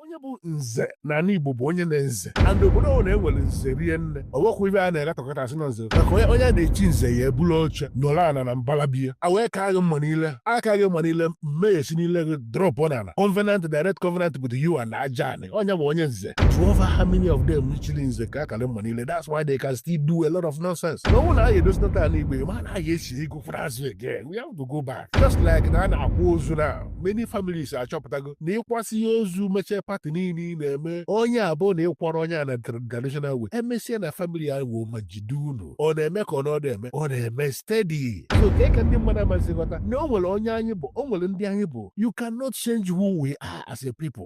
onye bụ nze na ala igbo bụ onye na-eze and obodo ọ na-enwere nze rie nne o nwekwa ive a na-aghatọkọta asị na nze maka onye a na-echi nze ya ebulu oche nọrọ ana na mbala be ya e wee kaa gị mma n'ile a kaa gị mma n'ile mmee si n'ile gị drọpụ n'ala covenant direct covenant with you and aja onye bụ onye nze jụọ over how many of them chiri nze ka a kara mma n'ile that's why they can still do a lot of nonsense na ọ wụ na anyị edozita ala igbo ma na anyị esi ego kwara azụ again we have to go back just like na a na-akwa ozu na many families achọpụtago na ị kwasịa ozu mechie party niile ị na-eme onye a bụ na ị kwọrọ onye a na traditional way emesịa na family ya wuo ma jide unu ọ na-eme ka ọ na ọdụ eme ọ na-eme steady so ka ka ndị mmadụ amazighọta na o nwere onye anyị bụ o nwere ndị anyị bụ you cannot change who we are as a people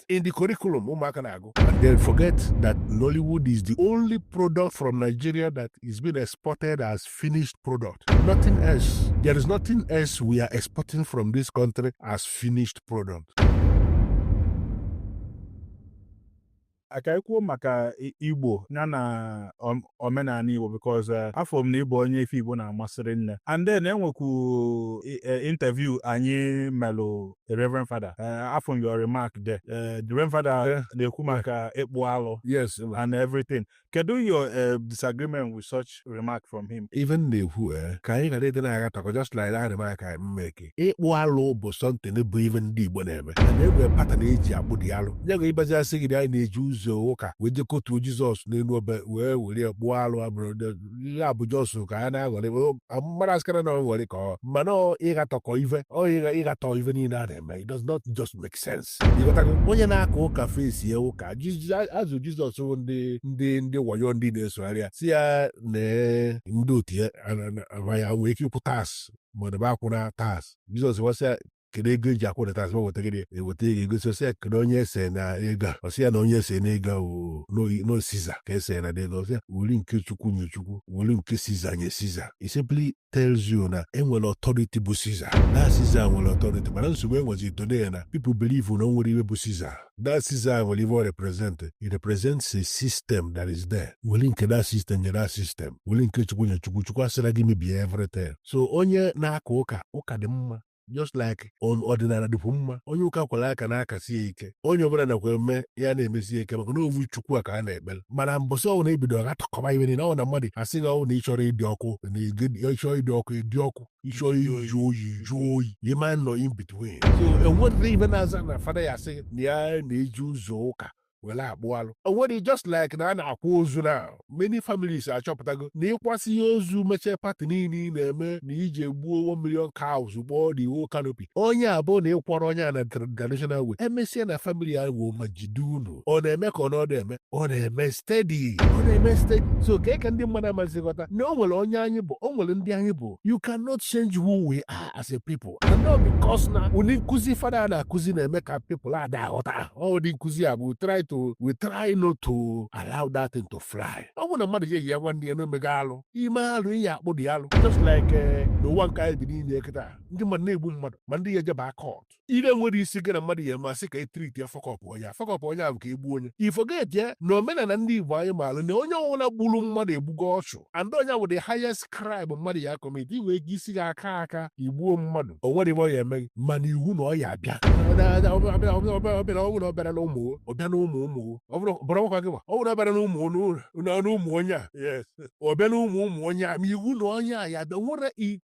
lost in the curriculum ụmụaka na-agụ and they forget that Nollywood is the only product from Nigeria that is being exported as finished product nothing else there is nothing else we are exporting from this country as finished product ka e kwuo maka igbo ya na omenala igbo because eh, afụ m na ị bụ onye ife igbo na-amasị rinne and then enwekwu eh, interview anyị melụ the Reverend Father uh, afụ m your remark there uh, the Reverend Father uh, na-ekwu maka ịkpụ alụ yes and everything kedu your uh, disagreement with such remark from him ive m na-ekwu eh, ka anyị ghara ịdị na-aghatọkọ just like that remark m make ịkpụ alụ bụ something bụ ive ndị Igbo na-eme na e nwe pattern e ji akpụ dị alụ onye ga-abịazi asị gị na anyị na-eji ụzọ ụka wee je kotuo Jizọs n'elu obe wee were kpụọ alụ abụrụ ihe a bụ just ka a na-aghọrị mmadụ asịkara na nghọrị ka ọ mana ịghatọkọ ife ọ ịgha ịghatọ ife niile a na-eme it does not just make sense ịghọtago onye na-aka ụka face ya ụka azụ jizọs bụ ndị ndị ndị wayo ndị na-esogharị ya sị ya na ndị otu ya ya nwee ike ịkwụ tax maọbụ akwụna tax jizọs wee sị ya kedu ego eji akwụrụ tax ma weta gịnị eweta ego egosi ọ sị ya kedu onye ese na ego a ọ sị ya na onye ese na ego a wụ n'oyi- no siza ka ese na ego ọ sị ya weli nke chukwu nye chukwu weli nke siza nye siza It simply tells you na enwere authority bụ siza na siza nwere authority mana nsogbu enwezi today na people believe na o nwere ive bụ siza that siza nwere ive ọ represent it represents a system that is there weli nke that system nye that system weli nke chukwu nye chukwu chukwu asịra gị mebie everything so onye na-aka ụka ụka dị mma just like ọdịnala dịkwu mma onye ụka kwere aka na-akasi ya ike onye ọdịnala kwe eme ya na-emesi ya ike maka na ovu chukwu a ka a na-ekpere mana mbọsị ọ wụ na ebido ghatọkọba ive niile ọ na mmadụ asị gị ọ wụ na ị chọrọ ịdị ọkụ na ị chọọ ịdị ọkụ ị dị ọkụ ị chọọ ịjụ oyi ị jụọ oyi ị ma nọ in between so enwedịrị ive na-aza na fada ya asị na ya na-eji ụzọ ụka were akpụ alụ o nwere just like na a na-akwa ozu na many families achọpụtago na ị kwasịa ozu mechaa party niile ị na-eme na iji egbuo 1 million cows gbọọ the whole canopy onye a bụ na ị kwarọ onye a na traditional way emesịa na family ya wụ ma jide unu ọ na-eme ka ọ na ọdụ eme ọ na-eme steady ọ na-eme steady so ka ka ndị mmadụ amazighọta na o nwere onye anyị bụ o nwere ndị anyị bụ you cannot change who we are as a people and ọ because na ụdị nkụzi fada na-akụzi na-eme ka people ada aghọta ụdị nkụzi a bụ try to we try not to allow that thing to fly ọ bụrụ na mmadụ ji eyi ya nwanne ya na o mego alụ i mee alụ ị ya-akpụ the alụ just like eh, n'ụwa nke anyị bi n'ime kịta ndị mmadụ na-egbu mmadụ ma ndị ya ejeba court ile nwere isi gị na mmadụ ya ma sị ka e treat ya fuck up onye fuck up onye ahụ ka e gbuo onye i forget ya na omenala ndị igbo anyị maara na onye ọbụla gburu mmadụ egbugo ọchụ and ọ ya wụ the highest crime mmadụ ya commit i wee isi gị aka aka i gbuo mmadụ o nwere ihe ọ ya eme gị mana iwu na ọ ya abịa ọ bịara ọ bụrụ ọ bịara na ụmụ ọ bịa na ụmụ ụmụ ọ bụrụ bụrụ ọkwa gị ma ọ bụrụ ọ bịara na ụmụ n'ụlọ- na ụmụ onye a yes ọ bịa na ụmụ ụmụ onye a ma iwu na onye a ya abịa nwere i-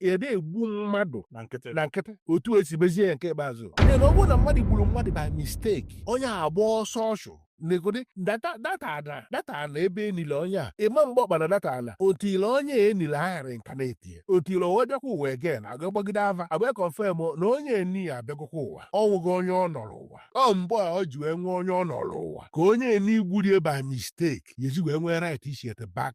ede egbu mmadụ na nkịtị otu esi mezie ya nke ikpeazụ na ọ bụrụ na mmadụ gburu mmadụ by mistake onye a gbaa ọsọ ọchụ negode that ala ebe e nili onye a ị ma agba ọkpa na that ala until onye e nili a reincarnatie until o wee bịakwa ụwa again a ga-agbagide ava agba confirm na onye eni ya abịagokwa ụwa o nwego onye ọ nọrọ ụwa ọ mgbe a ọ ji wee nwee onye ọ nọrọ ụwa ka onye eni gburie by mistake ya eji wee nwee right ichiete back